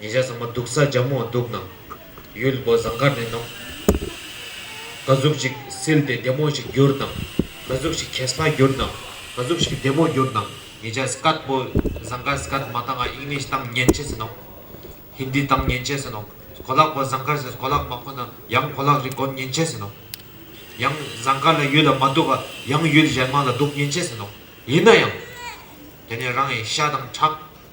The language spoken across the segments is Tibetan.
ཉེ་ཆར་ཚང་མ་འདུག་ས་རྒྱ་མོ་འདུག་ནང་ཡོད་ལི་བོ་ཟངས་དཀར་ནས་ནོག། ག་གཟུགས་ཞིག་བསིལ་ཏེ་བདེ་མོ་ཞིག་གྱུར་དང། ག་གཟུགས་ཞིག་གས་སྲ་གྱུར་དང། ག་གཟུགས་ཞིག་བདེ་མོ་གྱུར་དང། ཉེ་ཆར Scott བོ་ཟངས་དཀར Scott མ་དང English དང་ཉན་ཆས་སུ་ནོག། Hindi དང་ཉན་ཆས་སུ་ནོག། གོ་ལག་བོ་ཟངས་དཀར་གོ་ལག་མ་ཁོ་ན་ཡང་གོ་ལག་རི་སྒོར་ཉན་ཆས་སུ་ནོག། ཡང་ཟངས་དཀར་ལ་ཡུལ་ལ་མ་འདུག་ག་ཡང་ཡུལ་གཞན་མང་ལ་འདུག་ཉན་ཆས་སུ་ནོག། ཡིན་ན་ཡང། དེ་ནས་རང་ཡི་ཤ་དང་ཁྲག།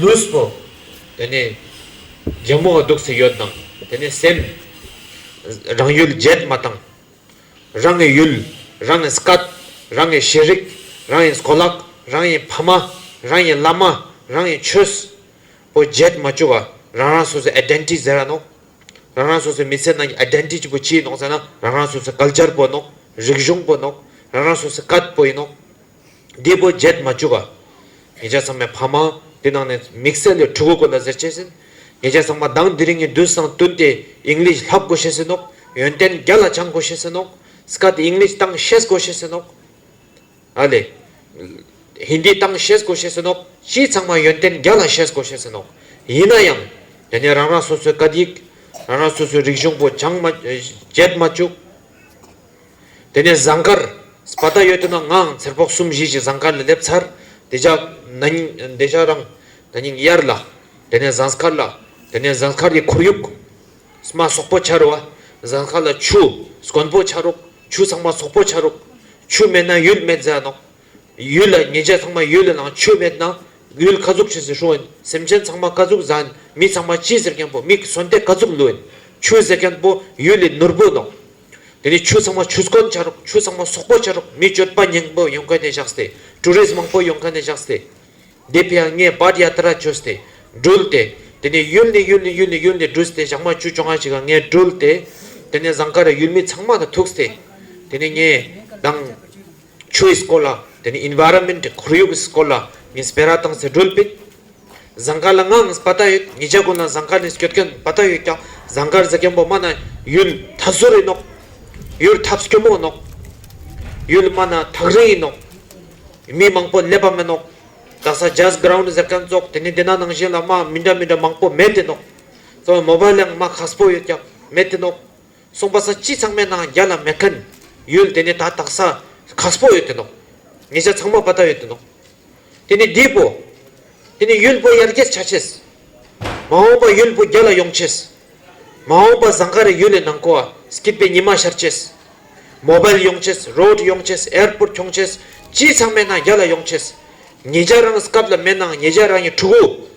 ལུས་པོ། དེ་ནས་རྒྱལ་མོ་སྡུག་ཚེ་ཡོད་དང། དེ་ནས་སེམས། རང་ཡུལ་བརྒྱད་མ་དང། རང་ངའི་ཡུལ། རང་ངའི་སྐད། རང་ངའི་ཤེས་རིག། རང་ཡིན་སྐོ་ལག། རང་ཡིན་ཕ་མ། རང་ཡིན་བླ་མ། རང་ཡིན་ཆོས། པོ་བརྒྱད་མ་བཅུ་བ་རང་རང་སོ་སོའི Identity ཟེར་ར་ནོ། རང་རང་སོ་སོའི་མི་ཚེ་ནང་གི Identity པོ་ཅི་ཡིན་ནོ་ཟེར་ན་རང་རང་སོ་སོའི Culture པོ་ཡིན་ནོ། རིག་གཞུང་པོ་ཡིན་ནོ། རང་རང་སོ་སོའི་སྐད་པོ་ཡིན་ནོ། རྒྱལ་པོ་བརྒྱད་མ་བཅུ་པ། ངེད་ཅག་ཚང་མས་ཕ་མ། དེ་ནང་ནས་མིག་སེར་ལས་ཕྲུ་གུ་དགོས་ལ་ཟེར་བྱས་ཟིན། ངེད་ཅག་ཚང་མ་གདངས་འདི་རིགས་ནི་བདུན་སྲང་བདུན་ཏེ English ལྷག་དགོས་བྱས་ཟིན་ནོ། ཡོན་ཏན་བརྒྱ་ལ་བྱང་དགོས་བྱས་ཟིན་ནོ། Skat English སྟངས་བཤད་དགོས་བྱས་ཟིན་ནོ། ཨ་ལེ། Hindi སྟངས་བཤད་དགོས་བྱས་ཟིན་ནོ། སྤྱི་ཚང་མ་ཡོན་ཏན་བརྒྱ་ལ་བཤད་དགོས་བྱས་ཟིན་ནོ། ཡིན་ན་ཡང། དེ་ནས་རང་རང་སོ་སོའི་སྐད་ཡིག། རང་རང་སོ་སོའི་རིག་གཞུང་པོ་བྱང་མ། བརྒྱད་མ་བཅུ། དེ་ནས་ཟངས་དཀར། སྤ་རྟ་ཡོད་དོ་ན་ངའང་འཚེར་ཕོག་གསུམ་བཞི་ཞིག་ཟངས་དཀར་ལ་སླེབས་ཚར། དེ་ལྕགས། ན་ནིང། འདི་ལྕགས་རང། ན་ནིང་དབྱར་ལ། དེ་ནས་ཟངས་དཀར་ལ། དེ་ནས་ཟངས་དཀར་གྱི་ཁོར་ཡུག། ས་མ་སོག་པོ་འཆར་བ། ཟངས་དཀར་ལ་ཆུ། གོན་པོ་འཆར་རོགས། ཆུ་ཚང་མ་སོག་པོ་འཆར་རོགས། ཆུ་མེད་ན་ཡུལ་མེད་ཟེར་ནོ། ཡུལ་ལ་ཉེས་ཆད་ཚང་མ་ཡུལ་ལ་ལངས་ཆུ་མེད་ན། ཡུལ་ཁ་ཟུག་བྱེད་ཟེར་ཧྲུའུ་ཨན་སེམས་ཅན་ཚང་མ་ཀ་ཟུག་བཟའ་ཨན་མི་ཚང་མ་ཅི་ཟེར་མཁན་པོ་མིག་གསོན་ཏེ་ཀ་ཟུག་ལུས་ཨན་ཆུ་ཟེར་མཁན་པོ་ཡུལ་ལས་ནོར་བུ་ནོ། དེ་ནས་ཆོས་ཚང་མ་ཆོས་སྐོར་འཆའ་རོགས་ཆོས་ཚང་མ་སོག་པོ་འཆའ་རོགས་མི་སྤྱོད་པ་སྙིང་པོ་ཡོང་ག་ནས་བཞག་སྟེ་ཀྲུའུ་རེས་མང་པོ་ཡོང་ག་ནས་བཞག་སྟེ། འདི་ཕིའང་ངས་བར་ཡ་ཏི་ར་བྱོས་སྟེ་སྦྲུལ་ཏེ། དེ་ནས་ཡུལ་ནས་ཡུལ་ནས་ཡུལ་ནས་ཡུལ་ནས་སྦྲུལ་སྟེ་ཞག་མ་བཅུ་བཅོ་ལྔ་ཞིག་ངས་སྦྲུལ་ཏེ། དེ་ནས་བཟང་ཁ་ར་ཡུལ་མི་ཚང་མ་དང་ཐུགས་སྟེ། དེ་ནས་ངས་དང། ཆུའི་སྐོར་ལ་དེ་ནི Environment ཁོར་ཡུག་གི་སྐོར་ལ་ངས་སྤེལ་ར་དང་ཟེར་སྒྲོལ་དཔལ། ཟངས་དཀར་ལ་ངའང་སྤ་ད་ཡོད་ངེད་ཅག་ཀུན་ལ་ཟངས་དཀར་ནས་སྐྱོད་མཁན་སྤ་ད་ཡོད་ཀྱང་ཟངས་དཀར་ཟ་མཁན་པོ་སྨ་ན་ཡུལ་ཐགས་ཟུ་རི་ནོག། ཡུལ་ཐགས་སྐྱོ་མོ་ནོག། ཡུལ་སྨ་ན་ཐགས་རིང་ཡིན་ནོག། མི་མང་པོ་སླེབས་པ་མིན་ནོག། རྡ་ས Jazz Ground ཟེར་མཁན་ཙོག་དེ་ནི་འདི་ན་ནང་བཞིན་ལ་སྨ་མི་འདྲ་མི་འདྲ་མང་པོ་མེད་དེ་ནོག། ཙོག་མོ་བ་ལའང་སྨ་ཁ་སྤོ་ཡོད་ཀྱང་མེད་དེ་ནོག། གསུངས་པ་ས་སྤྱི་ཚང་མའི་ནང་རྒྱ་ལ་མེ་ཁན་ཡོད་དེ་ནས་ད་དག་ས་གག་སྤོ་ཡོད་དེ་འདུག་ཉེ་ཆ་ཚང་མ་པ་ད་ཡོད་དེ་འདུག་དེ་ནས་བསྡུས་པོ་དེ་ནས་ཡུལ་པོ་ཡར་རྒྱས་ཆ་ཆེས་མ་འོངས་པ་ཡུལ་པོ་རྒྱ་ལ་ཡོང་ཆེས་མ་འོངས་པ་ཟང་ཁ་རེ་ཡུལ་ལས་ནང་ཁོ་ཨ་སྐིད་པའི་ཉི་མ་ཤར་ཆེས་མོ་བལ་ཡོང་ཆེས་རོད་ཡོང་ཆེས་ཨེར་པོར་འཁྱོང་ཆེས་སྤྱི་ཚང་མའི་ནང་རྒྱ་ལ་ཡོང་ཆེས་ཉེ་ཆ་རང་སྐབས་ལ་མེ་ནང་ཉེ་ཆ་རང་ཡིན་ཕྲུ་གུ་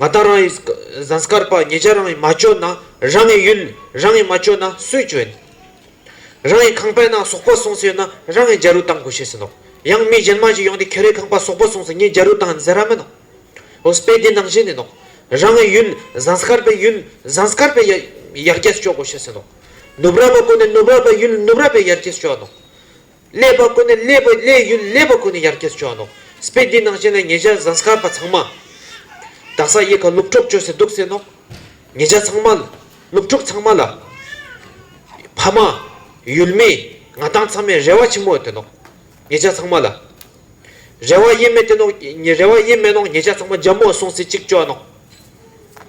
ང་དང་རང་ཡི་ཟངས་དཀར་པ་ངེད་ཅག་རང་ཡི་མ་བཅོས་ན་རང་ངའི་ཡུལ་རང་ངས་མ་བཅོས་ན་སུས་བཅོས། རང་ཡི་ཁང་པའི་ནང་ཟོག་པོ་སོང་ས་ཡོད་ན་རང་ངས་འཇའ་རུ་བཏང་དགོས་བྱས་ཟིན་ནོ། ཡང་མི་གཞན་མ་ཞིག་ཡོང་སྟེ་ཁྱེད་རའི་ཁང་པ་ཟོག་པོ་སོང་ས་ངས་འཇའ་རུ་བཏང་ཟེར་ར་མིན་ནོ། འོ་དཔེ་དེ་ནང་བཞིན་ཡིན་ནོ། རང་ངའི་ཡུལ་ཟངས་དཀར་པའི་ཡུལ་ཟངས་དཀར་པའི་ཡར་རྒྱས་སུ་སྤྱོད་དགོས་བྱས་ཟིན་ནོ། ནུབ་ར་པ་ཀུན་ནས་ནུབ་ར་པའི་ཡུལ་ནུབ་ར་པའི་ཡར་རྒྱས་སུ་སྤྱོད་ཨ་ནོ། ཀླད་པ་ཀུན་ནས་ཀླད་པའི་ཀླད་ཡུལ་ཀླད་པ་ཀུན་ནས་ཡར་སྐྱེས་སུ་བྱོན་ནོ། སྤེལ་འདིའི་ནང་བཞིན་ལས་ངེད་ཅག་ཟངས་སྐར་པ་ཚང་མ། དག་ས་གཡས་ཁ་སློབ་གྲོགས་བཅོལ་སའི་འདུག་སེ་ནོ། ངེད་ཅག་ཚང་མ། སློབ་གྲོགས་ཚང་མ་ལ། ཕ་མ། ཡུལ་མི། ང་དང་ཚང་མས་རེ་བ་ཆེན་མོ་བསྟན་ནོ། ངེད་ཅག་ཚང་མ་ལ། རེ་བ་དབྱེར་མེད་བསྟན་ནོ། རེ་བ་དབྱེར་མེད་ནོ་ངེད་ཅག་ཚང་མ་རྒྱ་མོ་སོང་སའི་གཅིག་བཅོལ་ནོ།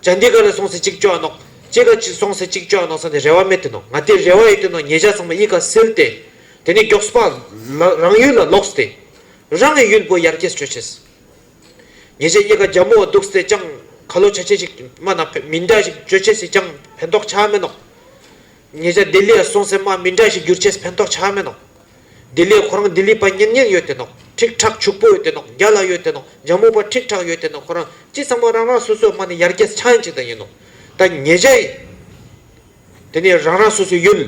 བྱ་འདི་ག་ལ་སོང་སའི་གཅིག་བཅོལ་ནོ། ཅེ་ག་སོང་སའི་གཅིག་བཅོལ་ནོ་ས་ནས་རེ་བ་མེད་བསྟན་ནོ། ང་དེ་རེ་བ་ཡོད་བསྟན་ནོ་ངེད་ཅག་ཚང་མ་གཡིས་ཁ་སེལ་ཏེ། དེ་ནས་མགྱོགས་པ་ལ་རང་ཡུལ་ལ་ལོག་སྟེ། རང་གི་ཡུལ་སྤོས་ཡར་སྐྱེལ་སྤྱོད་བྱས། ཉེ་ཆར་གཡེར་ཁ་རྒྱ་མོ་བདུག་སྟེ་ཅང་ག་ལོ་ཆ་ཆེན་ཞིག་རྨ་ན་མི་འདྲ་ཞིག་སྤྱོད་བྱས་སྲིད་ཅང་ཕན་ཐོགས་ཆགས་མེད་ནོ། ཉེ་ཆར་ལྡི་ལི་ཡར་སོང་སའི་རྨ་མི་འདྲ་ཞིག་བསྒྱུར་བྱས་ཕན་ཐོགས་ཆགས་མེད་ནོ། ལྡི་ལི་ཁོ་རང་ལྡི་ལི་པ་ཉེང་ཉེང་ཡོད་དེ་ནོ་ཁྲིག་ཁྲག་ཕྱུག་པོ་ཡོད་དེ་ནོ་རྒྱ་ལ་ཡོད་དེ་ནོ་རྒྱ་མོ་པ་ཁྲིག་ཁྲག་ཡོད་དེ་ནོ་ཁོ་རང་ཅི་ཚང་མ་རང་རང་སོ་སོའི་རྨ་ནས་ཡར་སྐྱེལ་ཆགས་ཡིན་ཅིག་དང་ཡིན་ནོ། ད་ཉེ་ཆར། དེ་ནས་རང་རང་སོ་སོའི་ཡུལ།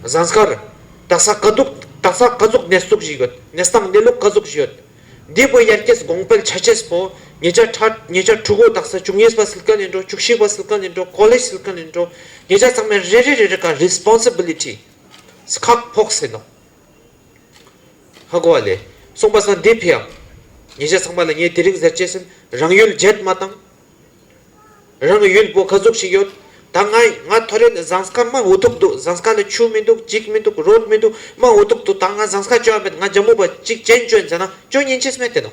གཟའ་སྐར། རྡ་ས་དཀའ་སྡུག། རྡ་ས་དཀའ་སྡུག་གནས་སྡུག་བཞི་ཡོད། གནས་སྟངས་གནས་ལུགས་དཀའ་སྡུག་བཞི་ཡོད། འདས་པོ་དབྱར་སྐྱེས་དགོངས་དཔལ་ཆ་ཆེས་པོ། ཉེ་ཆར་ཁྲ། ཉེ་ཆར་ཕྲུ་གུ་རྡ་ས་བཅུ་གཉིས་པ་སིལ་ཀ་ལེན་འགྲོ་བཅུ་བཞི་པ་སིལ་ཀ་ལེན་འགྲོ་ཀོ་ལེ་སིལ་ཀ་ལེན་འགྲོ། ཉེ་ཆར་ཚང་མས་རེ་རེ་རེ་རེ་ཀ Responsibility། སི་ཁག་ཕོག་ཟེར་ནོ། ཧ་གོ་བ་ལས། སོང་པ་སང་འདས་ཕེབས་ཡག། ཉེ་ཆར་ཚང་མ་ལ་ངས་དེ་རིང་ཟེར་བཅད་སེམས་རང་ཡུལ་བརྗེད་མ་བཏང། རང་གི་ཡུལ་སྤོ་ཁ་ཟུག་ཞིག་ཡོད། ད་ང་ཡིན་ང་ཐོ་རེད་ཟངས་ཁ་སྨྲ་འུ་ཐུག་འདུག་ཟངས་ཁ་ལ་ཆུ་མི་འདུག་གཅིག་མི་འདུག་རོལ་མི་འདུག་སྨྲ་འུ་ཐུག་འདུག་ད་ང་ཟངས་ཁ་སྤྱོད་ཨ་མེད་ང་རྒྱ་མོ་པ་གཅིག་གཅེན་གཅུན་མཛད་ན་ཅུང་ཉིན་ཕྱིས་སྨྲས་དེ་ནོ།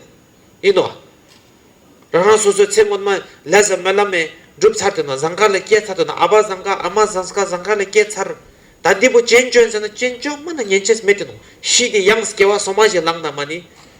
ཡིན་ནོ། རང་རང་སོ་སོའི་ཚེ་སྔོན་མ་ལས་ཟབ་མོའི་བླ་མས་བསྒྲུབ་ཚར་དུས་ན་ཟངས་ཁ་ལ་སྐྱེས་ཚར་དུས་ན་ཨ་ཕ་ཟངས་ཁ་ཨ་མ་ཟངས་ཁ་ཟངས་ཁ་ལ་སྐྱེས་ཚར། ད་འདི་པོ་གཅེན་གཅུན་མཛད་ན་གཅེན་གཅུན་སྨྲ་ན་ཉིན་ཕྱིས་སྨྲས་དེ་ནོ། ཤི་དེ་ཡང་སྐྱེ་བ་སོ་མ་བཞི་ལངས་ན་མ་ནི།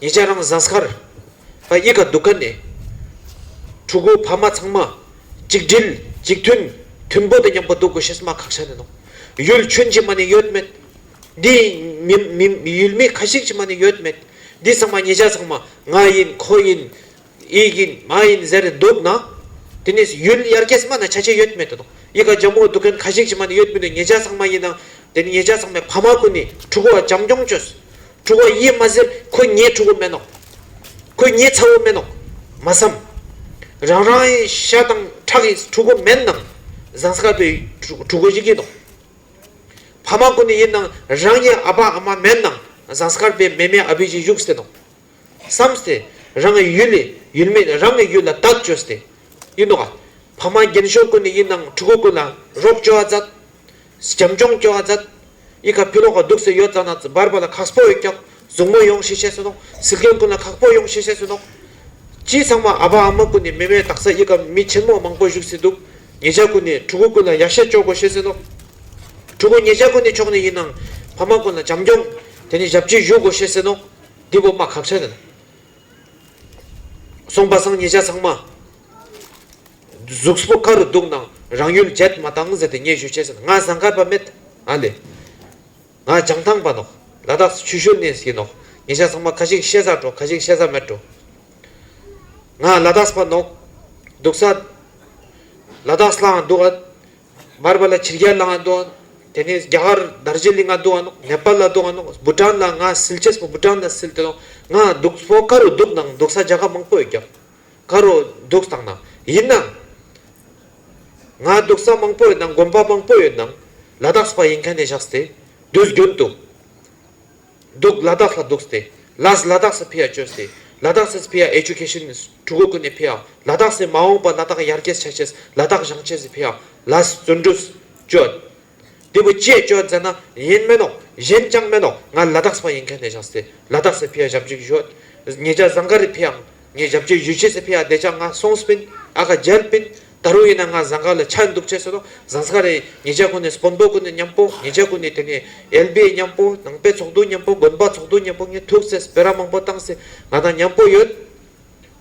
ཉེ་ཆར་རང་བཟང་སར་དབྱེ་ཁ་འདུག་ཁ་ནས་ཕྲུ་གུ་ཕ་མ་ཚང་མ་གཅིག་སྒྲིལ་གཅིག་མཐུན་མཐུན་པོ་དེ་མཉམ་པོ་འདུག་དགོས་ཞེས་སྨྲ་ཁག་ཆགས་ནས་གནང། ཡུལ་ཆོས་མཆིས་མ་ནི་ཡོད་མེད་འདི། ཡུལ་མི་ཁ་ཤིག་མཆིས་མ་ནི་ཡོད་མེད་འདི་ཚང་མ་ཉེ་ཆར་ཚང་མ་ང་ཡིན་ཁོ་ཡིན་ཡིག་ཡིན་མ་ཡིན་ཟེར་འདུག་ན། དེ་ནས་ཡུལ་དབྱར་ཁའི་སྨན་ན་ཆ་ཆེ་ཡོད་མེད་དུ་དང། ཡིད་ཁ་འཇམ་བོ་འདུག་མཁན་ཁ་ཤས་ཀྱི་མ་ནི་ཡོད་མི་འདུག་ཉེ་ཆ་ཚང་མ་ཡིན་ན། དེ་ནི་ཉེ་ཆ་ཚང་མའི་ཕ་མ་ཀུན་ནས་ཕྲུ་གུ་བ་བྱམས་སྐྱོང་བྱོས། ཕྲུ་གུ་བ་ཡིད་མ་ཟེར་ཁོས་ངའི་ཕྲུ་གུ་སྨན་ནོ། ཁོས་ངའི་ཚ་བོ་སྨན་ནོ། མ་བསམ། རང་རང་གི་ཤ་དང་ཁྲག་གི་ཕྲུ་གུ་སྨན་ནང་བཟང་ས་ག་པའི་ཕྲུ་གུ་ཞིག་གིས་དང། ཕ་མ་ཀུན་ནས་ཡིན་ནང་རང་གི་ཨ་ཕ་ཨ་མ་སྨན་ནང་བཟང་ས་ག་པའི་མེ་མེ་ཨ་བུས་ཀྱིས་བཞུགས་སེ་དང། བསམ་སྟེ། རང་གི་ཡུལ་ལས་ཡུལ་མེད་རང་གི་ཡུལ་ལ་བདག་བཅོས་སྟེ། ཡིན་ནོ། ཕ་མ་རྒན་གཞོན་ཀུན་ནི་ཡིད་སྣང་ཕྲུ་གུ་ཀུན་ལ་རོགས་སྐྱོ་བ་མཛད། བྱམས་སྐྱོང་སྐྱོ་བ་མཛད། ཡིད་ཁ་ཕི་ལོག་ག་འདུག་སེ་ཡོད་ཙང་ན་ཙི་འབར་འབར་ལ་ཁག་སྤོ་ཡོད་ཀྱང་གཟུགས་མོ་ཡོང་ཤེས་ཤེས་སུ་གནོང་ཟིལ་གྱོན་ཀུན་ལ་ཁག་སྤོ་ཡོང་ཤེས་ཤེས་སུ་གནོང། སྤྱི་ཚང་མ་ཨ་ཕ་ཨ་མ་ཀུན་ནི་མི་མེད་དག་ས་ཡིད་ཁ་མི་ཆེན་མོ་མང་པོ་བཞུགས་སེ་འདུག་ངེད་ཅག་ཀུན་ནི་ཕྲུ་གུ་ཀུན་ལ་ཡག་ཤེས་སྐྱོ་དགོས་ཤེས་སུ་གནོང། ཕྲུ་གུ་ངེད་ཅག་ཀུན་ནི་མཆོག་ནི་ཡིན་ནང་ཕ་མ་ཀུན་ལ་བྱམས་སྐྱོང་དེ་ནི་ཞབས་ཕྱི་བཞུགས་དགོས་ཤེས་སུ་གནོང། འདི་སྒོ་མ་གག་ཆ་ནས་སོང་པ་སང་ཉིད་ཆ་ཚང་མ་གཟུགས་པོ་དཀར་རུ་འདུག་ནང་རང་ཡུལ་བརྗེད་མ་བཏང་ཟེར་ཏེ་སྙན་ཞུ་བྱས་ཟིན་ང་ཟངས་དཀར་པ་མེད་ཨ་ལེ་ང་བྱང་ཐང་པ་ནོག་ལ་དྭགས་སུ་ཆུ་ཤོར་ནས་ཟིན་ནོག་ཉིད་ཆ་ཚང་མ་ཁ་ཞིག་ཤེས་ས་འགྲོ་ཁ་ཞིག་ཤེས་ས་མེད་འགྲོ་ང་ལ་དྭགས་པ་ནོག་འདུག་ས་ལ་དྭགས་སླའང་འདུག་ཨ། མར་པ་ལ་བྱིར་རྒྱལ་ལའང་འདུག་ཨང། དེ་ནས་རྒྱ་གར་དར་ཇི་ལིང་ལ་འདུག་ཨང། ནེ་པཱལ་ལ་འདུག་ཨང། བུ་ཏྲཱན་ལ་ང་སིལ་ཆེས་པོ་བུ་ཏྲཱན་ལ་སིལ་དེ་ང་འདུག་སྤོ་དཀར་རོ་འདུག་ནང་འདུག་ས་རྒྱ་ཁབ་མང་པོ་ཡོད་རྒྱ་གར་རོ་འདུག་དང་ནང་ཡིན་ནང་ང་འདུག་ས་མང་པོ་ཡོད་ནང་དགོན་པ་མང་པོ་ཡོད་ནང་ལ་དྭགས་སུ་པ་ཡིན་མཁན་ནས་བཞག་སྟེ་དུས་རྒྱུན་དུ། འདུག་ལ་དྭགས་ལ་འདུག་སྟེ་ལཱས་ལ་དྭགས་སུ་ཕེ་ཡ་བཅོས་སྟེ་ལ་དྭགས་སིས་ཕེ་ཡ Education is གྲུ་གུ་ཀུན་ནས་ཕེ་ཡ་ལ་དྭགས་སིས་མ་འོངས་པ་ལ་དྭགས་ཡར་རྒྱས་བྱ་ཆེད་ལ་དྭགས་བྱང་ཆེས་སིས་ཕེ་ཡ་ལཱས་བརྩོན་འགྲུས་བཅོས། འདི་བུ་སྐྱེས་བཅོས་མཛད་ན་ཡིན་སྨན་ནོ་གཞན་ཅང་སྨན་ནོ་ང་ལ་དྭགས་སི་བ་ཡིན་མཁན་ནས་བྱང་སིས་ལ་དྭགས་སིས་ཕེ་ཡ་བྱབ་འཇུག་བྱོས། ངེད་ཅག་བཟང་ག་རི་ཕེ་ཡ་ངས་རྒྱབ་སྐྱོར་ཡུས་ཅེ་སི་ཕི་ཨ་བདེ་ཅག་ང་སོང་སྤིན་ཨ་ག་འཇལ་སྤིན་ད་རུང་ཡིན་ན་ང་བཟང་ག་ལ་ཆགས་འདུག་ཅེས་སོ་བཟང་ས་རེད་ངེད་ཅག་ཀུན་ནས་སྤོན་པོ་ཀུན་ནས་མཉམ་པོ་ངེད་ཅག་ཀུན་ནས་དེ་ནས་ཨེལ་བྷེ་མཉམ་པོ་ནང་པའི་ཚོགས་འདུ་མཉམ་པོ་དགོན་པ་ཚོགས་འདུ་མཉམ་པོ་ངས་ཐུགས་བརྩེ་སྤེ་ར་མང་པོ་བཏང་སེ་ང་དང་མཉམ་པོ་ཡོད།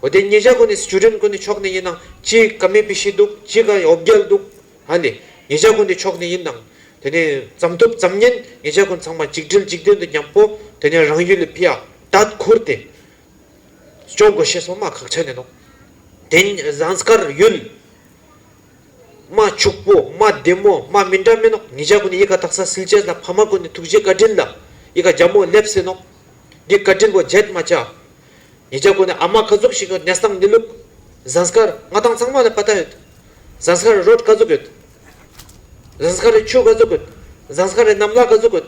འོ་དེ་ངེད་ཅག་ཀུན་ནས Student ཀུན་ནས་ཕྱོགས་ནས་ཡིན་ནང་ཅི་ག་མེད་པི་ཤི་འདུག་ཅི་ག་ཡོབ་རྒྱལ་འདུག་ཧ་ལས་ངེད་ཅག་ཀུན་ནས་ཕྱོགས་ནས་ཡིན་ནང་དེ་ནས་ཙམ་ཐུབ་ཙམ་ཉན་ངེད་ཅག་ཀུན་ཚང་མ་གཅིག་སྒྲིལ་གཅིག་མཐུན་དུ་མཉམ་པོ་དེ་ནས་རང་ཡུལ་ལ་ཕི་ཨ་དད་ཁུར་དེ་སྐྱོང་དགོས་ཞེས་སོགས་སྨྲ་ཁག་བྱས་ནས་དང། དེ་བཟང་དཀར་ཡུལ། རྨ་ཕྱུག་པོ་རྨ་བདེ་མོ་རྨ་མི་འདྲ་མིན་ནོ། ངེད་ཅག་ཀུན་ནས་ཡིད་ཁ་བཏགས་ས་སིལ་བྱེད་ལ་ཕ་མ་ཀུན་ནས་ཐུགས་རྗེ་བཀའ་དྲིན་ལ་ཡིད་ཁ་རྒྱ་མོ་སླེབས་ཟིན་ནོ། འདི་བཀའ་དྲིན་པོ་བརྗེད་མ་བྱ། ངེད་ཅག་ཀུན་ནས་ཨ་མ་ཁ་རྫོབ་ཞིག་ཡོད་གནས་སྟངས་ནི་ལུགས། བཟང་དཀར་རྔ་ཐང་ཚང་མ་ལ་པ་ཏ་ཡོད། བཟང་དཀར་རི་རོ་དཀར་རྫོབ་ཡོད། བཟང་དཀར་རི་ཆུ་དཀར་རྫོབ་ཡོད། བཟང་དཀར་རི་གནམ་ལྷ་དཀར་རྫོབ་ཡོད།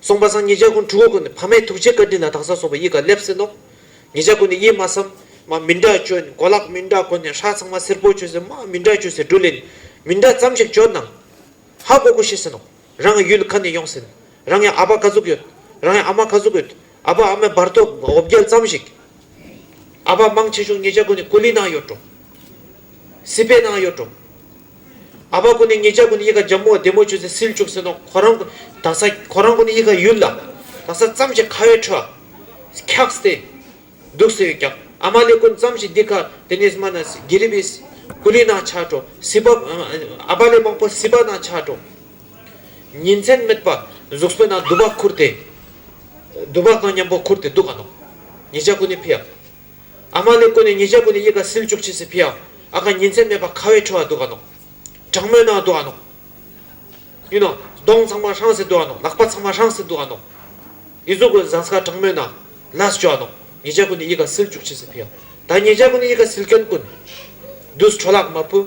སོང་པ་སང་ཉིད་ཇག་རྐུན་ཕྲུ་གུ་ཀུན་ནི་ཕ་མའི་ཐུགས་རྗེའི་བཀའ་དྲིན་ལ་དྭངས་སར་སོང་བས་ཡིད་ག་ལེབ་སེ་ནོ། ངེད་ཅག་ཀུན་ནི་གཡེལ་མ་བསམ། མ་མི་འདྲ་བཅོས་ནི་གོ་ལག་མི་འདྲ་བཀོལ་ནས་ཧྲག་ཚང་མ་སེར་པོ་བཅོས་སེ་མ་མི་འདྲ་བཅོས་སེ་སྦྲུལ་ལེ་ནི་མི་འདྲ་ཙམ་ཞིག་བཅོས་ནའང། ཧ་གོ་གོ་ཤེས་སེ་ནོ། རང་ཡང་ཡུལ་ལ་ཁ་ནས་ཡོང་སེ་ནི། རང་ཡང་ཨ་ཕ་ཁ་ཟུག་ཡོད། རང་ཡང་ཨ་མ་ཁ་ཟུག་ཡོད། ཨ་ཕ་ཨ་མའི་བར་དོ་འོབ་རྒྱལ་ཙམ་ཞིག་ཨ་ཕ་མང་ཆེ་ཆུང་ཉེ་ཆ་ཀུན་ནས་ཀུ་ལི་ནང་ཡོད་འགྲོ། སི་པའི་ནང་ཡོད་འགྲོ། ཨ་ཕ་ཀུན་ནས་ཉེ་ཆ་ཀུན་ཡི་ག་འཇམ་མོ་བདེ་མོ་ཆུ་ཚན་སིལ་བྱུག་ཟེར་ནོ་ཁོ་རང་ཀུན་དག་ས་ཁོ་རང་ཀུན་ནས་ཡི་ག་ཡུལ་ལ་དག་ས་ཙམ་ཞིག་ཁ་བའི་ཁྲོད་འཁྱག་སྟེ་འདུག་ཟེར་ཡོད་ཀྱང་ཨ་མ་ལས་ཀུན་ཙམ་ཞིག་འདི་ག་དེ་ནས་མ་ནས་གྷི་རི་བའི་ཀུ་ལི་ནང་ཆགས་འགྲོ་སི་པ་ཨ་ཕ་ལས་མང་པོ་སི་པ་ནང་ཆགས་འགྲོ། ཉིན་མཚན་སྨད་པ་གཟུགས་སྤོས་ན་དུ་བ་ཁུར་ཏེ། དུ་བ་གང་མཉམ་པོ་ཁུར་ཏེ་འདུག་ག་ནོ། ཉིས་བརྒྱ་ཀུན་ནས་ཕིའམ། ཨ་མ་ལས་ཀུན་ནས་ཉིས་བརྒྱ་ཀུན་ནས་ཡིད་དགའ་ཟིལ་བཅུག་བྱས་སེ་ཕིའམ་ཨ་ག་ཉིན་མཚན་སྨད་པ་ཁ་བའི་ཁྲོ་བ་འདུག་ག་ནོ། གྲང་མོའི་ནང་འདུག་ག་ནོ། ཡུ་ནོ། གདོང་ཚང་མ་ཧྲངས་སེ་འདུག་ག་ནོ་ལག་པ་ཚང་མ་ཧྲངས་སེ་འདུག་ག་ནོ། ཡིད་གཟུགས་ཀུན་བཟང་ས་ག་གྲང་མོའི་ནང། ལཱས་བྱོ་ག་ནོ། ཉིས་བརྒྱ་ཀུན་ནས་ཡིད་དགའ་ཟིལ་བཅུག་བྱས་སེ་ཕིའམ། ད་ཉིས་བརྒྱ་ཀུན་ནས་ཡིད་དགའ་ཟིལ་སྐྱོན་ཀུན། དུས་གྲོ་ལག་མ་བུ།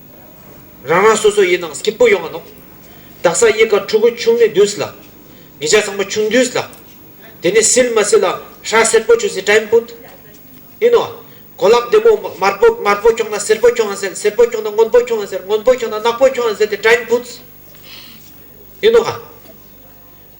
རང་རང་སོ་སོ་ཡི་ནང་སྐྱིད་པོ་ཡོང་བ་ནོ། བདག་ས་གཡས་དཀར་ཕྲུ་གུ་ཆུང་ནི་དུས་ལ། ངེད་ཅག་ཚང་མ་ཆུང་དུས་ལ། དེ་ནས་སིལ་མ་སིལ་ལ་ཧྲ་སེར་པོ་ཆུ་སིལ་སྐྲ་ཡིན་པུད། ཡིན་ནོ། གོ་ལག་བདེ་མོ་དམར་པོ་དམར་པོ་ཁྱོང་ན་སེར་པོ་ཁྱོང་ཡང་སེར་སེར་པོ་ཁྱོང་ན་སྔོན་པོ་ཁྱོང་ཡང་སེར་སྔོན་པོ་ཁྱོང་ན་ནག་པོ་ཁྱོང་ཡང་སེར་དེ་སྐྲ་ཡིན་པུད། ཡིན་ནོ།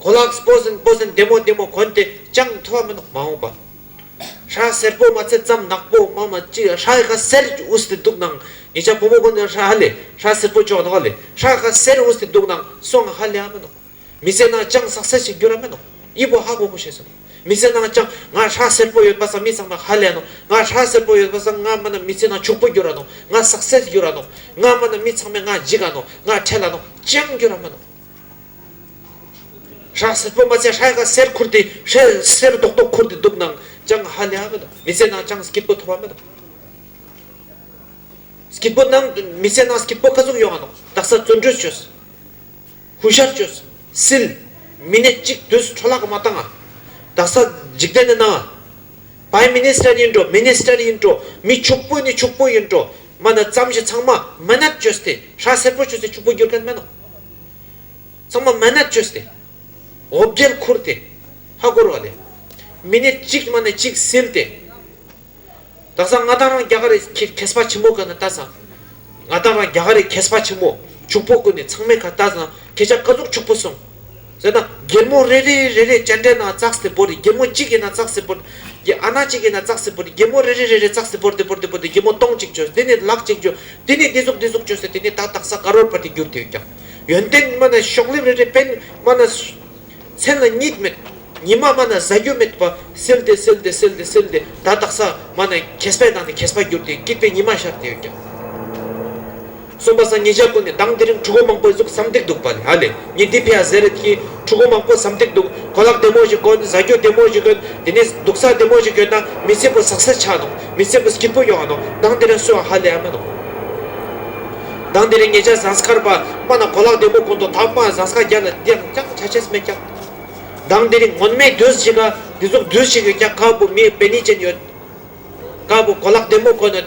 གོ་ལག་སྤོ་ཟིན་སྤོ་ཟིན་བདེ་མོ་བདེ་མོ་གོན་ཏེ་ཅང་མཐོ་བ་མིན་ནོ་མ་འོངས་པ། ཧྲ་སེར་པོ་མ་ཚད་ཙམ་ནག་པོ་མ་མ་ཅི་ཧྲ་ཧ་སེར་གྱི་ཨུ་སྟེ་འདུག་ནང་ཉེ་ཆ་བུ་མོ་གོན་ནས་ཧྲ་ཧ་ལེ་ཧྲ་སེར་པོ་ཅོག་ནོག་ལེ་ཧྲ་ཧ་སེར་ཨུ་སྟེ་འདུག་ནང་སོང་ཧ་ལེ་ཨ་མིན་ནོ། མི་ཚེ་ནང་ཅང་བསགས་སེར་ཞིག་འགྱུར་ཨ་མིན་ནོ་དབྱི་པོ་ཧ་གོ་གོ་བྱས་སོ་ནོ་མི་ཚེ་ནང་ཅང་ང་ཧྲ་སེར་པོ་ཡོད་པ་བསམ་མི་ཚང་མ་ཧ་ལེ་ཨ་ནོ་ང་ཧྲ་སེར་པོ་ཡོད་པ་བསམ་ང་མིན་ན་མི་ཚེ་ནང་ཕྱུག་པོ་འགྱུར་ཨ་ནོ་ང་བསགས་སེར་འགྱུར་ཨ་ནོ་ང་མིན་ན་མི་ཚང་མས་ང་འཇིགས་ཨ་ནོ་ང་ཁྲེལ་ཨ་ནོ་ཅང་འགྱུར་ཨ་མིན་ནོ། ཧྲག་སེར་པོ་མ་ཚད་ཧྲལ་ག་སེར་འཁུར་དེ་ཧྲལ་སེར་རྡོག་རྡོག་འཁུར་དེ་སྡུག་ན་ཅང་ཧ་ལས་མི་འདུག་མི་ཚད་ན་ཅང་སྐྱིད་པོ་ཐོབ་པ་མི་འདུག་སྐྱིད་པོ་ནང་མི་ཚད་ན་སྐྱིད་པོ་ཁ་ཙུམ་ཡོང་བ་འདུག་རྡག་ས་བཙོན་གྲོས་བྱོས་ཧུ་ཤར་བྱོས་སིལ་མི་སྣས་གཅིག་དུས་སུ་འཕྲོ་བརླག་གི་མ་བཏང་ང་རྡག་ས་འཇིག་རྟེན་ནི་ནང Prime Minister ཡིན་འགྲོ Minister ཡིན་འགྲོ་མི་ཕྱུག་པོ་ནི་ཕྱུག་པོ་ཡིན་འགྲོ་མ་ན་ཙམ་བཞི་ཚང་མ་མ་ནད་བཅོས་སྟེ་ཧྲ་སེར་པོ་བྱོས་ཚེ་ཕྱུག་པོ་འགྱུར་མཁན་མེད་ནོ། ཚང་མ་མ་ནད་བཅོས་ཏེ་འོ་བརྒྱལ་ཁུར་ཏེ་ཧ་བསྐོར་བ་ལས། མི་ནི་གཅིག་མ་ནི་གཅིག་སིལ་ཏེ། དག་ས་ང་དང་རང་རྒྱ་ག་རེ་གེས་པ་ཆེན་པོ་ག་ནི་ལྟ་ས། ང་དང་རང་རྒྱ་ག་རེ་གེས་པ་ཆེན་པོ་ཕྱུག་པོ་ཀུན་ནས་ཚང་མས་ཁ་ལྟ་ས་ཁྱེད་ཅག་ཀ་ཟུག་ཕྱུག་པོ་སོང། ཟེར་ན་སྒེར་མོ་རེ་རེ་རེ་རེ་སྤྱན་འདྲེན་ན་ཙག་སེ་བོར་ཏེ་སྒེར་མོ་གཅིག་ཡིན་ན་ཙག་སེ་བོར། ཨ་ན་གཅིག་ཡིན་ན་ཙག་སེ་བོར་ཏེ་སྒེར་མོ་རེ་རེ་རེ་རེ་ཙག་སེ་བོར་ཏེ་བོར་ཏེ་བོར་ཏེ་སྒེར་མོ་སྟོང་གཅིག་བྱོས་དེ་ནས་ལག་གཅིག་བྱོས་དེ་ནས་འདི་གཟུགས་འདི་གཟུགས་བྱོས་ཟེར་དེ་ནས་ད་ལྟག་ས་དཀར་བོར་ཕར་དེ་བསྒྱུར་དེ་ཀྱང། ཡོན་ཏན་སྨྲ་ན་ཤོག་ལེབ་རེ་རེ་པད་སྨྲ་ན། མཚན་ལ་གཉིད་མེད་ཉི་མ་སྨྲ་ན་གཟའ་རྒྱུ་མེད་པ་སེལ་ཏེ་སེལ་ཏེ་སེལ་ཏེ་སེལ་ཏེ་ད་ལྟག་ས་སྨྲ་ན་གེས་པའི་ནང་ནས་གེས་པ་བསྒྱུར་དེ་སྐྱིད་པའི་ཉི་མ་ཤར་དེ་ཡོད་ཀྱང། གསུམ་པ་སངས་རྒྱས་ཀུན་ནས་དང་དེ་རིང་ཕྲུ་གུ་མང་པོའི་གཟུགས་བསམ་འདེགས་འདུག་པ་ལ་ཨ་ལེ་ཉིན་དེའི་ཕི་ཨ་ཟེར་རེད་ཀྱིས་ཕྲུ་གུ་མང་པོ་བསམ་འདེགས་འདུག་གོ་ལག་བདེ་མོ་ཞིག་གོན་བཟའ་རྒྱུ་བདེ་མོ་ཞིག་གོན་དེ་ནས་འདུག་ས་བདེ་མོ་ཞིག་གྱོན་ན་མི་སེར་པོ་ཟག་སེར་ཆགས་འདུག་མི་སེར་པོ་སྐྱིད་པོ་ཡོང་འདུག་དང་དེ་རིང་གསོད་བ་ཧ་ལས་མི་འདུག་དང་དེ་རིང་ངེད་ཅག་ཟངས་སྐར་པདྨ་ན་གོ་ལག་བདེ་མོ་གོན་འདུག་ད་དམའ་ཟངས་སྐར་རྒྱབ་ལ་འདི་ཡང་རྐྱང་ཆ་ཆེས་མེད་རྐྱང་དང་དེ་རིང་ངོ་མས་དུས་ཞིག་འདི་གཟུགས་བདུད་ཞིག་ཡོད་རྐྱང་ཁ་སྤུ་མིའི་བེ་ནི་ཅན་ཡོད་དཀར་པོ་གོ་ལག་བདེ་མོ་གོན་ནས།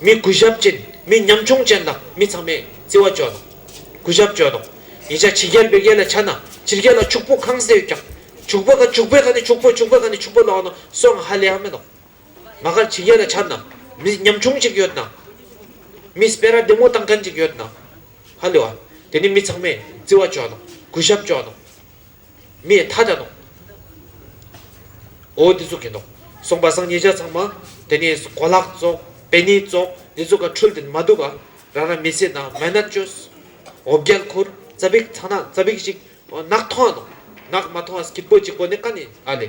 མི་དགུ་ཞབས་ཅན་མི་ཉམ་ཆུང་ཅན་དང་མི་ཚང་མས་བརྩི་བ་བཅོལ་ནོ། དགུ་ཞབས་བཅོལ་ནོ། ཡིན་ཕྱ་ཕྱི་རྒྱལ་བེར་རྒྱལ་ལ་ཕྱ་ན་ཕྱི་རྒྱལ་ལ་ཕྱུག་པོ་གང་ཟེ་ཡོད་ཀྱང་ཕྱུག་པོ་ག་ཕྱུག་པོའི་ཁ་ནས་ཕྱུག་པོ་ཕྱུག་པོའི་ཁ་ནས་ཕྱུག་པོ་ལོག་ན་སྲོག་ང་ཧ་ལས་ཡང་མེད་ནོ། ང་གར་ཕྱི་རྒྱལ་ལ་ཕྱར་ན་མི་ཉམ་ཆུང་ཅིག་ཡོད་ན་མི་སྤེ་ར་བདེ་མོ་བཏང་མཁན་ཅིག་ཡོད་ན་ཧ་ལས་བ་དེ་ནི་མི་ཚང་མས་བརྩི་བ་བཅོལ་ནོ་དགུ་ཞབས་བཅོལ་ནོ། མི་ཡི་མཐའ་དག་ནོ། འོ་འདི་ཚོ་གིས་ནོ། གསུངས་པ་སང་ཉིད་ཆ་ཚང་མ། དེ་ནི་གོ་ལག་བཙོག། བེ་ནི་བཙོག། འདི་ཚོ་ག་འཕྲུལ་དུ་མ་འདུག་ག། རང་རང་མི་ཚེ་ནང་མན་ནར་སྤྱོད། འོ་རྒྱལ་འཁོར། རྩ་བིག་ཚང་ནག་རྩ་བིག་ཅིག། ནག་ཐོང་ནོ། ནག་མ་ཐོང་ཨ་སྐྱིད་པོ་གཅིག་པོ་ནི་ཀ་ནི་ཨ་ལེ།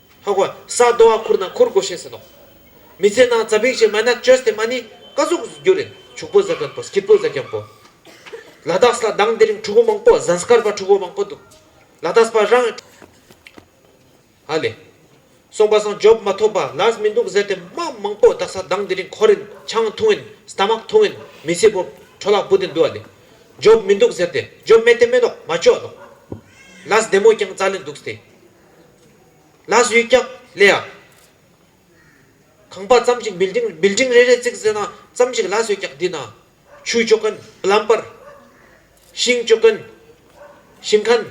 ཧོ་ཧོ། ས་རྡོ་བ་ཁུར་ན་ཁུར་དགོས་ཤེས་ཟིན་ནོ། མི་ཚེ་ནང་རྩ་བིག་ཅེས་མ་ན་ཅོས་དེ་མ་ནི་ཀ་ཟུག་ཟུག་རྒྱུ་རེད་བྱུག་པོ་ཟ་གིན་པོ་སྐྱིད་པོ་ཟ་གིན་པོ། ལ་དྭགས་ལ་དྭང་འདི་རིང་ཕྲུ་གུ་མང་པོ་གཟན་སྐར་པ་ཕྲུ་གུ་མང་པོ་འདུག་ལ་དྭགས་པ་རང་ཧ་ལས། སོང་པ་སང་ཇོབ་མ་ཐོབ་པ་ལཱས་མི་འདུག་ཟེར་དེ་མ་མང་པོ་དྭགས་ས་དྭང་འདི་རིང་ཁོ་རིན་ཆང་འཐུང་ཨིན Stomach འཐུང་ཨིན་མི་ཚེ་པོ་ཁྲོ་ལག་པོ་དེ་འདུག་ཨ་ལས། ཇོབ་མི་འདུག་ཟེར་དེ་ཇོབ་མེད་དེ་མེད་ནོག་མ་ཅོག་ནོག། ལཱས་བདེ་མོ་ཀྱང་རྩ་ལེ་འདུག་སྟེ། ལ་གཟུགས་སྐྱབས་ལེ་ཡ། ཁང་པ་ཙམ་གཅིག building རེ་རེ་བརྩིགས་ཟེར་ན་ཙམ་གཅིག་ལ་གཟུགས་སྐྱབས་འདི་ན། ཆུ་སྐྱོ་མཁན plumber། ཤིང་སྐྱོ་མཁན་ཤིང་ཁན།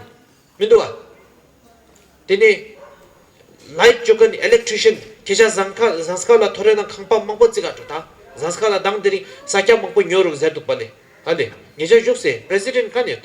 མི་འདུག་བ། དེ་ནས། light སྐྱོ་མཁན electrician ཁྱེད་ཅག་ཟངས་ཁ་ཟངས་སྐར་ལ་ཐོ་རེ་ན་ཁང་པ་མང་པོ་བརྩིགས་ཨ་འགྲོ་ད་ཟངས་སྐར་ལ་དང་དེ་རིང་ས་སྐྱ་མང་པོ་ཉོ་རུག་ཟེར་འདུག་པ་ལས་ཨ་ལས་ངེད་ཅག་བཞུགས་སའི president ག་ནས་ཡོད།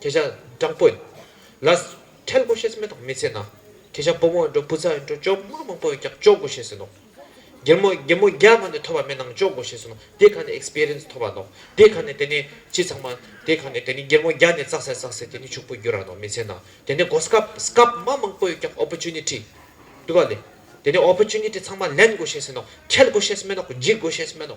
ཁྱེད་ཅག་སྦྲང་པོ་ཡིན། ལ། འཕྲལ་སྒོ་ཤེས་མེད་དང་མི་ཚེ་ན། ཁྱེད་ཅག་བུ་མོ་ཡིན་འགྲོ་བུ་ཚ་ཡིན་འགྲོ་ཅོག་དམག་མང་པོ་ཡོད་ཀྱང་ཅོག་དགོ་ཤེས་ཟིན་ནོ། རྒྱལ་མོ་རྒྱལ་མོ་རྒྱ་མ་ནས་ཐོས་པ་མེད་ནང་ཅོག་དགོ་ཤེས་ཟིན་ནོ་དེ་ག་ནས Experience ཐོབ་པ་ནོ་དེ་ག་ནས་དེ་ནི་ཅི་ཚང་མ་དེ་ག་ནས་དེ་ནི་རྒྱལ་མོ་རྒྱ་ནས་བཙག་སའི་བཙག་སའི་དེ་ནི་ཕྱུག་པོ་རྒྱུ་ར་ནོ་མི་ཚེ་ན་དེ་ནི་སྒོ་སྐབས་སྐབས་དམག་མང་པོ་ཡོད་ཀྱང Opportunity དུ་བ་ལེ་དེ་ནི Opportunity ཚང་མ་ལེན་དགོ་ཤེས་ཟིན་ནོ་འཕྲལ་སྒོ་ཤེས་མེད་ནོ་འཇིག་དགོ་ཤེས་མེད་ནོ།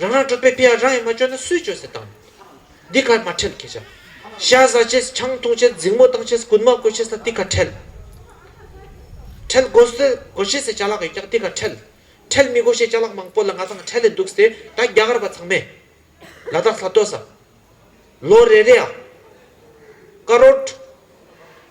རང་རང་གྲུབ་པའི་དཔེ་ཡང་རང་ཡིན་མ་བཅོས་ན་སུས་བཅོས་སེ་དང། འདི་གར་མ་ཁྲེལ་ཁྱེད་ཅག། ཤ་བཟའ་ཆེ་ས་ཆང་འཐུང་ཆེ་ས་རྫིག་མོ་བཏང་ཆེ་ས་རྐུན་མ་བརྐོས་ཆེ་ས་འདི་གར་ཁྲེལ། ཁྲེལ་དགོ་ས་དགོ་ཆེ་སའི་བྱ་ལག་ཡོད་ཀྱང་འདི་གར་ཁྲེལ། ཁྲེལ་མི་དགོ་ཤེས་བྱ་ལག་མང་པོ་ལ་ང་ཚང་ཁྲེལ་ལེ་འདུག་ཟེ་ད་རྒྱ་གར་བ་ཚང་མས། ལ་དྭགས་ས་སྟོད་ས། ལོ་རེ་རེ་ཨ། ཀ་རོད།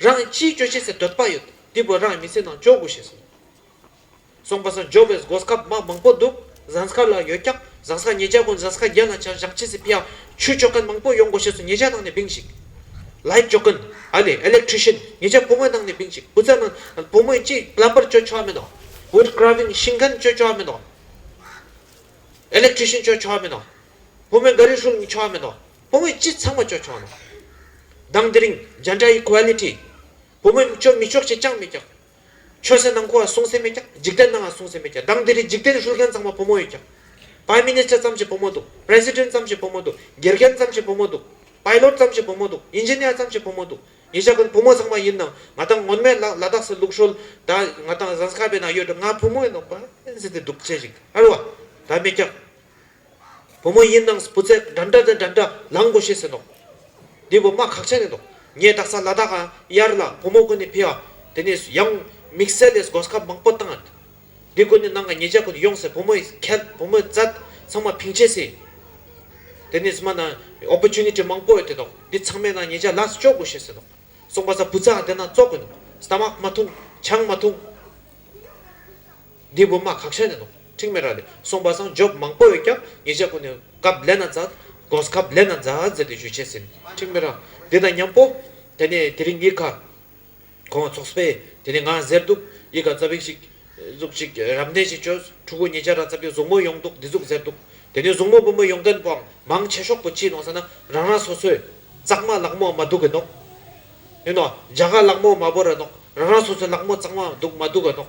རང་ཅིའི་སྐྱོ་ཤས་སེ་འདོད་པ་ཡོད་འདི་བོད་རང་མི་སེ་ནང་འཇོག་དགོས་ཞེས་གསུངས། སོང་པ་སང་འཇོག་བས་འགོ་སྐབས་དམག་མང་པོ་འདུག་གཟན་སྐར་ལ་ཡོད་ཀྱང་གཟན་སྐར་ཉེ་ཆར་གོང་གཟན་སྐར་བརྒྱད་ལ་ཆ་བཞག་བྱས་སེ་ཕི་ཡ་ཆུ་སྤྱོད་མཁན་མང་པོ་ཡོང་དགོས་ཞེས་སུ་ཉེ་ཆར་ནང་ནས་བིང་ཞིག Light སྤྱོད་མཁན་ཨ་ལས Electrician ཉེ་ཆར་བུ་མོའི་ནང་ནས་བིང་ཞིག་བུ་ཚ་ནང་བུ་མོས་ཅི Plumber སྤྱོད་ཆོག་མིན་ནོ Wood Carving ཤིང་མཁན་སྤྱོད་ཆོག་མིན་ནོ Electrician སྤྱོད་ཆོག་མིན་ནོ་བུ་མོས་འགའ་རེ་ཧྲུལ་ཉི་ཆོག་མིན་ནོ། བུ་མོས་ཅི་ཚང་མ་སྤྱོད་ཆོག་ན། མདང་དེ་རིང་འཇའ་འདྲ་ཡི Quality། བུ་མོས་སྤྱོད་མི་ཆོག་ཅེས་ཅང་མི་རྒྱག། ཆོས་སེར་ནང་ཁུལ་བ་སྲུང་སེ་མི་རྒྱག་འཇིག་རྟེན་ནའང་སྲུང་སེ་མི་རྒྱག་མདང་དེ་རིང་འཇིག་རྟེན་ཧྲུལ་མཁན་ཚང་མ་བུ་མོ་ཡིས་རྒྱག། Prime Minister ཙམ་ཞིག་བུ་མོ་འདུག President ཙམ་ཞིག་བུ་མོ་འདུག་དགེ་རྒན་ཙམ་ཞིག་བུ་མོ་འདུག Pilot ཙམ་ཞིག་བུ་མོ་འདུག Engineer ཙམ་ཞིག་བུ་མོ་འདུག་ཡིན་ཞག་གིན་བུ་མོ་ཚང་མ་ཡིན་ནང་ང་དང་ངོ་མས་ལ་དྭགས་སུ་ལུག་ཧྲོལ་ད་ང་དང Zanskar བའི་ནང་ཡོད་འགྲོ་ང་བུ་མོ་ཡིན་ནོ Prime Minister དེ་སྡུག་ཆེ་ཞིག་ཨ་རོ་བ་ད་མི་རྒྱག། བུ་མོ་ཡིན་ནང་བུ་ཚད་འདྲ་འདྲ་འདྲ་འདྲ་ལང་དགོས་ཤེས་ཟེར་འདུག་འདི་བུ་མ་ཁག་ཆ་ནས་འདུག་ངས་ད་ས་ལ་དྭགས་གཡར་ལ་བུ་མོ་ཀུན་ནས་ཕེ་ཨ་དེ་ནས་ཡང་དམིགས་བསལ་ལས་སྒོ་སྐབས་མང་པོ་བཏང་ཨ་འདི་ཀུན་ནས་ནང་ག་ཉེ་ཅག་ཀུན་ཡོང་ཟེར་བུ་མོ་ཁལ་བུ་མོ་བཙལ་ཚང་མ་ཕིང་བྱས་སྲིད་དེ་ནས་མ་ནང opportunity མང་པོ་ཡོད་དེ་འདུག་འདི་ཚང་མས་ནང་ཉེ་ཅག་ལ་སོ་ཅོག་དགོས་ཤེས་ཟེར་འདུག་སོང་པ་ས་བུ་ཚ་འདི་ནང་བཙོག་དགོས་འདུག stomach མ་འཐུང་ཆང་མ་འཐུང། འདི་སྒོ་མ་གགས་ཤ་ནས་ནོག་ཁྲིག་མེ་ར་ལས་སོང་བ་སངས་རྒྱོབ་མང་པོ་ཡོད་ཀྱང་ངེད་ཅག་ཀུན་ནས་གབ་ལེ་ན་འཛག་དགོས་གབ་ལེ་ན་འཛག་ཟེར་ཏེ་ཞུས་བྱས་ཟིན་ཁྲིག་མེ་ར་འདི་དང་མཉམ་པོ། དེ་ནས་དེ་རིང་ཡིད་ག་གོང་ཚོགས་པས་དེ་ནས་ང་ཟེར་འདུག་ཡིད་ག་རྩ་བིག་ཞིག་གཟུགས་ཅིག་རབ་གནས་ཤིག་བྱོས་ཕྲུ་གུ་ངེད་ཅག་ར་རྩ་བིག་བཟུང་མོ་ཡོང་འདུག་འདི་ཟུག་ཟེར་འདུག་དེ་ནས་བཟུང་མོ་སྤུ་མོ་ཡོང་མཁན་པོའང་མང་ཆེ་ཤོག་པོ་ཅི་ནོག་ཟེར་ན་རང་རང་སོ་སོས་གཙང་མ་ལག་མོ་མ་སྡུག་གི་ནོག་ཡིན་ནོག་རྒྱ་གར་ལག་མོ་མ་བོར་ར་ནོག་རང་རང་སོ་སོས་ལག་མོ་གཙང་མ་འདུག་མ་སྡུག་གི་ནོག།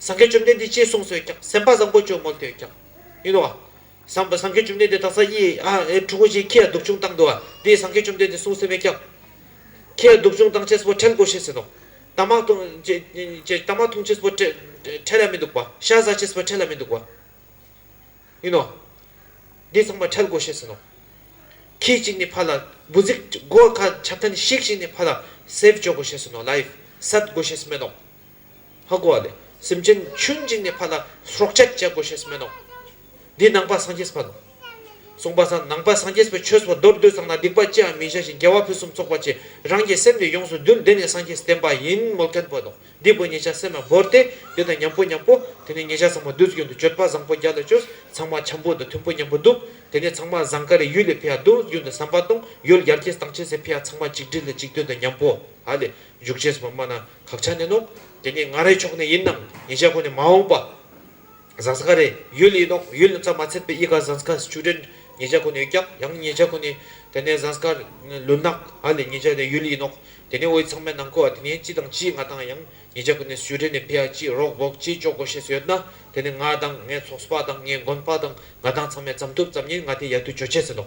ཟང་ཁའི་བཅོམ་ལྡན་འདས་ཅེས་གསུངས་སོས་ཀྱང་སེམས་དཔའ་བཟང་པོ་བཅོས་མོ་ལྟོས་ཀྱང། ཡིན་ནོ། ཟང་ཁའི་བཅོམ་ལྡན་འདས་དང་ས་ཡི། འཁྲུག་པོ་ཆེའི་ཁྱི་ཡང་སྡུག་ཆུང་བཏང་འདུག་བ་དེས་ཟང་ཁའི་བཅོམ་ལྡན་འདས་གསུངས་སེ་མེད་ཀྱང། ཁྱི་ཡང་སྡུག་ཆུང་བཏང་ཆས་སྤོ་ཁྲལ་དགོས་ཤེས་ཟེར་ནོ། དྭངས་མ་འཐུང་ཆས་སྤོ་ཁྲལ་ཡང་མི་འདུག་པ། ཤ་བཟའ་ཆས་སྤོ་ཁྲལ་ཡང་མི་འདུག་པ། ཡིན་ནོ། འདིས་ཚངས་པར་ཁྲལ་དགོས་ཤེས་ཟེར་ནོ། ཁྱི་གཅིག་ནི་ཕ་ལ་དགུ་ཟིག་དགོས། ཁ་ཆབ་ཐ་ནི་ཤིག་ཤིག་ནི་ཕ་ལ་སེར་བཅོས་དགོས་ཤེས་ཟེར་ནོ། ལཱིབ། སད་དགོས་ཤེས་སྨོས་ནོ། ཧ་གོ་བ་ལས་སེམས་ཅན་ཆུན་འཇིགས་ནས་ཕ་ལ་སྲོག་ཆད་བཅད་དགོས་ཞེས་སྨྲས་ནོ། འདིས་ནང་པ་སངས་རྒྱས་ཕ་ལ་གསུངས་པ་ཚ་ནང་པ་སངས་རྒྱས་པའི་ཆོས་སོ་མདོར་བསྡུས་ཚང་ན་སྡིག་པ་ཅི་ཡང་མི་བྱ་ཞིང་རྒྱལ་བ་ཕུན་སུམ་ཚོགས་པ་ཅེས་རང་གི་སེམས་ནི་ཡོངས་སུ་རྡུལ་བདེ་ནས་སངས་རྒྱས་བསྟན་པ་ཡིན་མོད་མཁན་པོ་དང་སྡིག་པའི་ཉེས་ཆ་སེམས་ལ་བོར་ཏེ་དེ་དང་མཉམ་པོ་མཉམ་པོ་དེ་ནས་ཉེས་ཆ་ཚང་མ་བདུད་རྩི་རྒྱུན་དུ་གཅོད་པ་བཟང་པོ་བརྒྱ་ལ་བཅོལ་ཚང་མ་བྱམས་པོ་དང་མཐུན་པོ་མཉམ་པོ་འདུག་དེ་ནས་ཚང་མ་བཟང་ཀ་རའི་ཡུལ་ལས་འཕེལ་བ་བདུད་རྩི་རྒྱུན་དུ་ཟམ་པ་དང་ཡུལ་ཡར་གྱི་དང་ཆེ་སའི་འཕེལ་བ་ཚང་མ་གཅིག་སྒྲིལ་ལ་གཅིག་མཐུན་དང་མཉམ་པོ་ཧ་ལས་འཇུག་ཅེས་སོགས་པ་སྨྲ་ན། ཁག་ཆ་ནས་ནོ། དེ་ནི་ང་རའི་ཕྱོགས་ནས་ཡིན་ནམ་ཉེ་ཆ་ཁོ་ནས་མ་འོངས་པ། ཟངས་ཁ་རེད། ཡུལ་ཡིན་ནོ། ཡུལ་ནི་ཚ་མ་ཚད་པའི་དབྱིས་ཁ་ཟངས་ཁ་ཆུ་དྲན་ཉེ་ཆ་ཁོ་ནས་ཡོད་ཀྱང་ཡང་ཉེ་ཆ་ཁོ་ནས་དེ་ནས་ཟངས་ཁ། ལུད་ནག་ཧ་ལས་ཉེ་ཆ་ནས་ཡུལ་ཡིན་ནོ། དེ་ནི་འོད་ཚང་མའི་ནང་ཁུལ་བ་དེ་ནས་སྤྱི་དང་སྤྱིའི་ང་དང་ཡང་ཉེ་ཆ་ཁོ་ནས་སུའི་གྲས་ནས་ཕི་ཨ་སྤྱིའི་རོགས་འབོག་སྤྱིའི་ཅོག་གོ་ཤེས་སུ་ཡོད་ན་དེ་ནི་ང་དང་ངའི་ཚོགས་པ་དང་ངའི་དགོན་པ་དང་ང་དང་ཚང་མའི་བརྩམས་ཐུབ་བརྩམས་ཉེན་ང་དེ་ཡར་དུ་བྱོལ་བྱས་ཟིན་ནོ།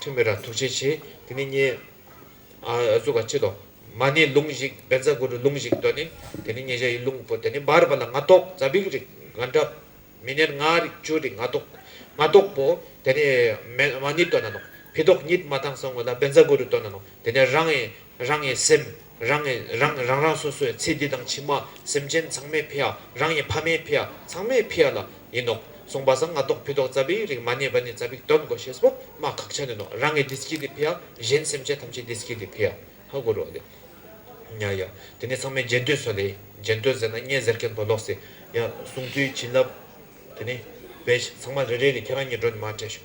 ཐུན་མི་ར་ཐུག་བྱེད་ཆེ། དེ་ནི་མཉེ། གཟུགས་ཀ་བྱེད་དོ། མ་ནི་ལུང་བཞིག་བན་བཟའ་དགུ་རུ་ལུང་བཞིག་དོ་ནི། དེ་ནི་མཉེ་བྱ་ཡི་ལུང་པོ་དེ་ནི་འབར་བ་ལ་ང་ཐོག་བཟའ་བིག་རིག་ང་འདྲ། མི་ནེར་ང་རིག་བཅུ་རིག་ང་ཐོག། ང་ཐོག་པོ། དེ་ནི། མ་ནི་དོ་ན་ནོ། བི་ཐོག་ཉིད་མ་དང་སོང་བ་ལ་བན་བཟའ་དགུ་རུ་དོ་ན་ནོ། དེ་ནི་རང། རང་ཡི་སེམས། རང་ངས་རང་རང་རང་སོ་སོའི་ཚེ་འདི་དང་ཕྱི་མ་སེམས་ཅན་ཚང་མའི་ཕེ་ཨ་རང་ཡི་ཕ་མའི་ཕེ་ཨ་ཚང་མའི་ཕེ་ཨ་ལ་ཡིན་ནོ་གསུངས་པ་བཟང་ང་ཏོག་ཕི་ཏོག་རྩ་བའི་རིགས་མ་ནས་བ་ནས་རྩ་བིག་སྟོན་དགོ་ཞེས་པོ་མ་ཁག་ཆ་ནས་ནོ་རང་ངས་འདི་སྐྱིད་དེ་ཕེ་ཨ་གཞན་སེམས་ཅན་ཐམས་ཅད་འདི་སྐྱིད་དེ་ཕེ་ཨ་ཧ་གོ་རོ་ལེ། ཡ་ཡ་དེ་ནས་ཚང་མས་རྗེས་ཟློས་སོ་ལེ་རྗེས་ཟློས་ཟེར་ན་བརྙན་ཟེར་མཁན་དོ་ལོག་སེ་ཡ་གསུངས་ཚུལ་བྱིན་རླབས་དེ་ནས་བེད་ཚང་མ་རེ་རེ་ལས་ཁྱེད་རང་གཉིས་འགྲོ་ནས་མ་བྲལ་ཤོག།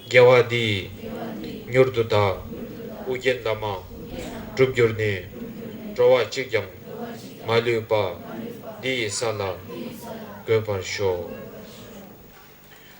རྒྱལ་བ་འདི་ཡིས་མྱུར་དུ་བདག། ཨུ་རྒྱན་འདབ་མ་བསྒྲུབ་གྱུར་ནས། འགྲོ་བ་གཅིག་ཀྱང་མ་ལུས་པ། འདི་ཡི་ས་ལ་འགོད་པར་ཤོག།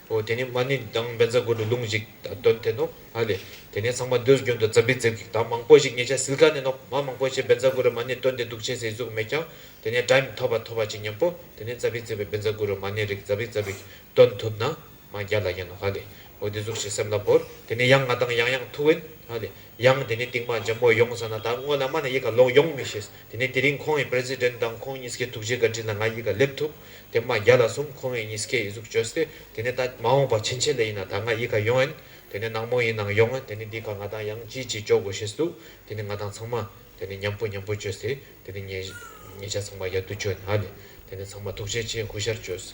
འོ་དེ་ནས་མ་ཎི་དང་སྦེན་ཚ་དགོད་བྲོ་ལུང་ཞིག་སྟོན་ཐལ་ནོ། ཧ་ལས་དེ་ནས་ཚང་མ་སྡོད་རྒྱུན་དུ་རྩ་བི་རྩེབ་ཀྱིས་ད་མང་པོ་ཞིག་ཉེ་ཆ་སིལ་ཁ་ནས་ནོ་མ་མང་པོ་ཞིག་སྦེན་ཚ་དགོད་བྲོ་མ་ཎི་སྟོན་ཏེ་འདུག་བྱེད་སའི་གཟུགས་མེད་ཀྱང་དེ་ནས་དྲ་མི་ཐོབ་པ་ཐོབ་པ་ཅི་སྙམ་པོ་དེ་ནས་རྩ་བི་རྩེབ་པའི་སྦེན་ཚ་དགོད་བྲོ་མ་ཎི་རིགས་རྩ་བི་རྩེབ་ཀྱིས་སྟོན་ཐུབ་ན། ང་རྒྱལ་ལ་ཡིན། ཧ་ལས། འོ་འདི་གཟུགས་ཤིག་སེམས་ལ་བོར། དེ་ནས་ཡང་ང་དང་ཡང་ཡང་ཐུག་བས། ཧ་ལས། ཡང་དེ་ནས་རྟིང་མ་འཇམ་བོ་ཡོང་ཟེར་ན་ད་དངོས་ལ་སྨྲ་ན་ཡིད་ག་ལོག་ཡོང་མི་ཤེས། དེ་ནས་དེ་རིང་ཁོང་གི President དང་ཁོང་གཉིས་ཀའི་ཐུགས་རྗེ་བཀའ་དྲིན་ལ་ང་ཡིད་ག་སླེབས་ཐུབ། དེ་མ་རྒྱ་ལ་གསུམ་ཁོང་གཉིས་ཀས་ཡི་གཟུགས་བཅོས་ཏེ། དེ་ནས་ད་མ་འོངས་པ་ཕྱིན་ཆད་ལ་ཡིན་ན་ད་ང་ཡིད་ག་ཡོང་ཨེ། དེ་ནས་ནག་མོ་ཡིན་ནང་ཡོང་ཨེ་དེ་ནས་འདི་ག་ང་དང་ཡང་ཅིའི་ཅིའི་འཇོག་དགོས་ཤེས་སུ་འདུག་དེ་ནས་ང་དང་ཚང་མ། དེ་ནས་མཉམ་པོ་མཉམ་པོ་བཅོས་ཏེ། དེ་ནས་ངེད་ཉེ་ཆ་ཚང་མ་ཡར་དུ་བྱོན། ཧ་ལས། དེ་ནས་ཚང་མ་ཐུགས་རྗེ་ཆེ་གུས་ཞར་བཅོས།